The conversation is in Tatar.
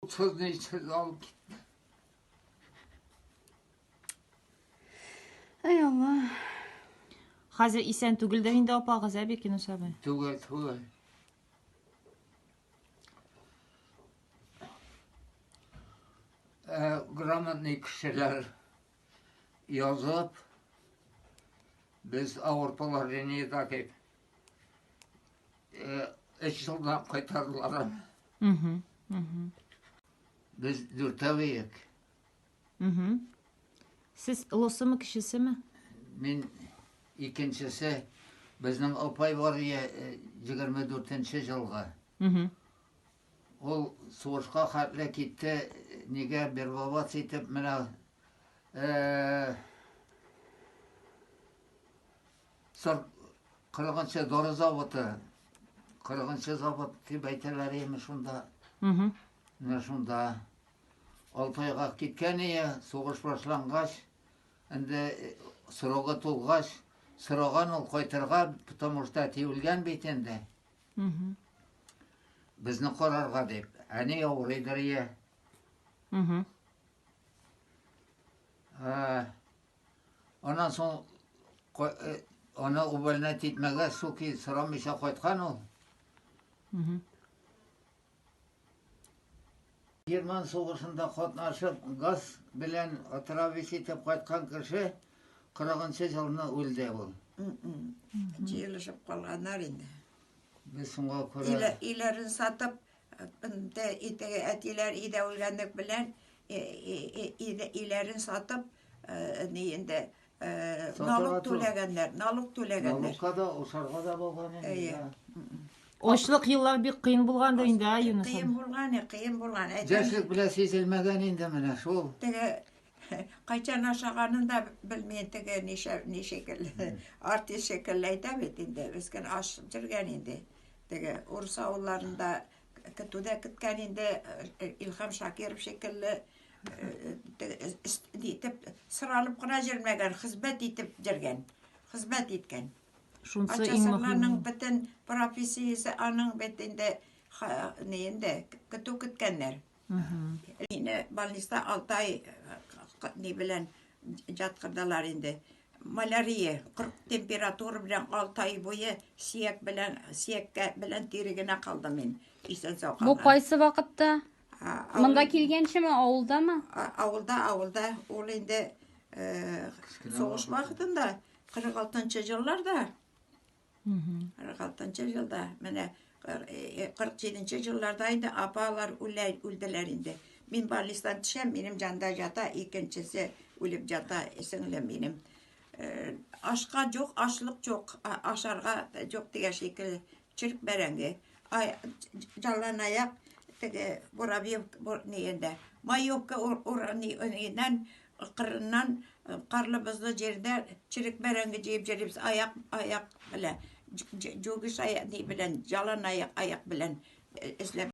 Утызны исез алып китте. Ай Алла. Хәзер исән түгел дә инде апагыз, әби кинус абый. Түгел, түгел. Э, грамотный кешеләр язып, без авыр положениедә дип Өч елдан кайтардылар аны. Без дүртәү иек. Сез олысымы, кечесеме? Мин икенчесе. Безнең апай бар ие 24-нче җылга. Ул сугышка хәтле китте, нигә бербабац итеп менә Сор кырыгынчы дары заводы. Кырыгынчы завод дип әйтәләр име шунда. Угу. Менә шунда. Алтайга киткән ие, сугыш башлангач, инде э, срогы тулгач, сораган ул кайтырга, потому что әти үлгән бит инде. Угу. Безне карарга дип. Әни авырыйдыр ие. Угу. Ә, Аннан соң э, аны увольнять итмәгә суки сорамыйча кайткан ул. Герман сугышында катнашып, газ белән отравить итеп кайткан кеше 40-нчы елны үлде ул. Җыелышып калганнар инде. Без соңга күрә. Иләрен сатып, Инде теге әтиләр өйдә үлгәнлек белән өйләрен сатып, ни инде налог түләгәннәр, налог түләгәннәр. Налогка да, ошарга да булган инде. Очлык еллар бик кыен булган да инде, Юнус. Кыен булган, кыен булган. Яшьлек белән сизелмәгән инде менә шул. Теге кайчан ашаганын да белмим, теге ничек артист шикелле әйтә бит инде, без генә аш җөргән инде. Теге урыс авылларында көтүдә көткән инде Илхам Шакиров шикелле итеп сыралып кына җөрмәгән, хезмәт итеп җөргән, хезмәт иткән. Шунсы иң мөһиме. бөтен профессиясе аның бит инде инде көтү көткәннәр. Мине больниста алтай ни белән жаткырдылар инде. Малярия, кырк температура белән алтай буе сиек белән сиеккә белән тире генә калдым мин. Исән сау Бу калдым. кайсы вакытта? А, авыл- Монда килгәнчеме, авылдамы? а- Авылда, авылда ул инде э, сугыш вакытында 46 елларда 46 елда менә 47 нче елларда инде апалар үлә үлделәр инде мин больницадан төшәм минем җанда ята икенчесе үлеп ята сеңлем минем ашка жоқ ашлык жоқ ашарга жоқ дигән шикелле черек бәрәңге жаллан аяк теге буравьев маевка ураннан Кырыннан карлы-бозлы җирдә черек бәрәңге җыеп җөрибез, аяк, аяк белән, җүгеш аяк, ни белән, җалан аяк, аяк белән эзләп.